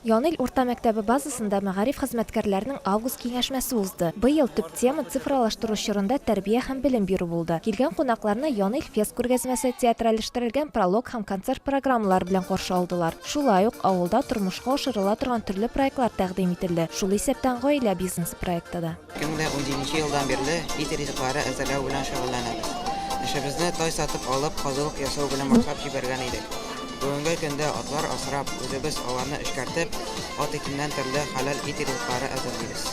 Янил урта мәктәбе базасында мәгариф хезмәткәрләренең август киңәшмәсе узды. Быел төп тема цифралаштыру чорында тәрбия һәм белем бирү булды. Килгән кунакларны Янил фест күргәзмәсе, театральләштерелгән пролог һәм концерт программалары белән каршы алдылар. Шулай ук авылда тормышка ашырыла торган төрле проектлар тәкъдим ителде, шул исәптән гаилә бизнесы проекты да. Кемгә унҗиденче елдан бирле ит ризыклары әзерләү белән шөгыльләнәбез. Эшебезне тай сатып алып, казылык ясау белән башлап җибәргән идек. Бүгенге көндә атлар асрап, үзебез аларны эшкәртеп, ат итеннән төрле хәләл ит ризыклары әзерлибез.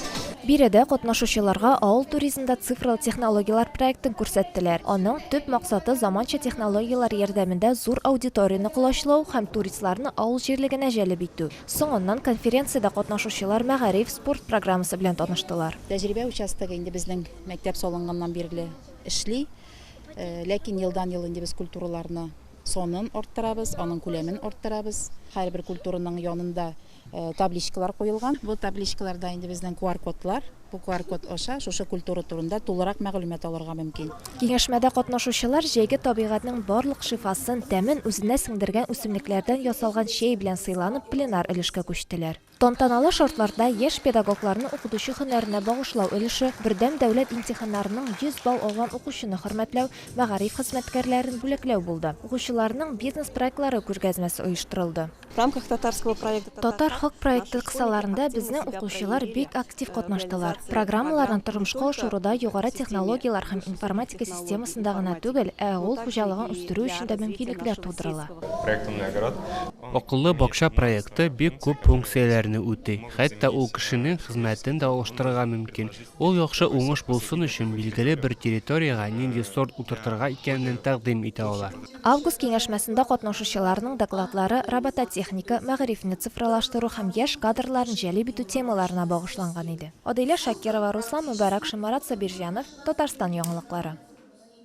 Биредә катнашучыларга Авыл туризмда цифрлы технологияләр проектын күрсәттеләр. Аның төп максаты заманча технологияләр ярдәмендә зур аудиторияне колачлау һәм туристларны авыл җирлегенә җәлеп итү. Соңыннан конференциядә катнашучылар мәгариф, спорт программасы белән таныштылар. Тәҗрибә участогы инде безнең мәктәп салынганнан бирле эшли. Ләкин елдан-ел инде без культураларны санын арттырабыз, аның күләмен арттырабыз. Һәрбер культураның янында табличкалар куелган. Бу табличкаларда инде безнең QR-кодлар. QR-код аша шушы культура турында тулырак мәгълүмат алырга мөмкин. Киңәшмәдә катнашучылар җәйге табигатьнең барлык шифасын, тәмен үзенә сеңдергән үсемлекләрдән ясалган чәй белән сыйланып пленар өлешкә күчтеләр. Тантаналы шартларда яшь педагогларны укытучы һөнәренә багышлау өлеше, бердәм дәүләт имтиханнарының 100 балл алган укучыны хөрмәтләү, мәгариф хезмәткәрләрен бүләкләү булды. Укучыларның бизнес проектлары күргәзмәсе оештырылды. В рамках татарского проекта. Татар халк проекты кысаларында безнең укучылар бик актив катнаштылар. Программаларны тормышка ашыруда югары технологияләр һәм информатика системасында гына түгел, ә авыл хуҗалыгын үстерү өчен дә мөмкинлекләр тудырыла. Акыллы бакча проекты бик күп функцияләрне үти, хәтта ул кешенең хезмәтен дә алыштырырга мөмкин. Ул яхшы уңыш булсын өчен, билгеле бер территориягә нинди сорт утыртырга икәнен тәкъдим итә ала. Август киңәшмәсендә катнашучыларның докладлары робототехника, мәгарифне цифралаштыру һәм яшь кадрларны җәлеп итү темаларына багышланган иде. Адилә Шакирова, Руслан Мөбарәкшин, Марат Сабирҗанов, Татарстан яңалыклары.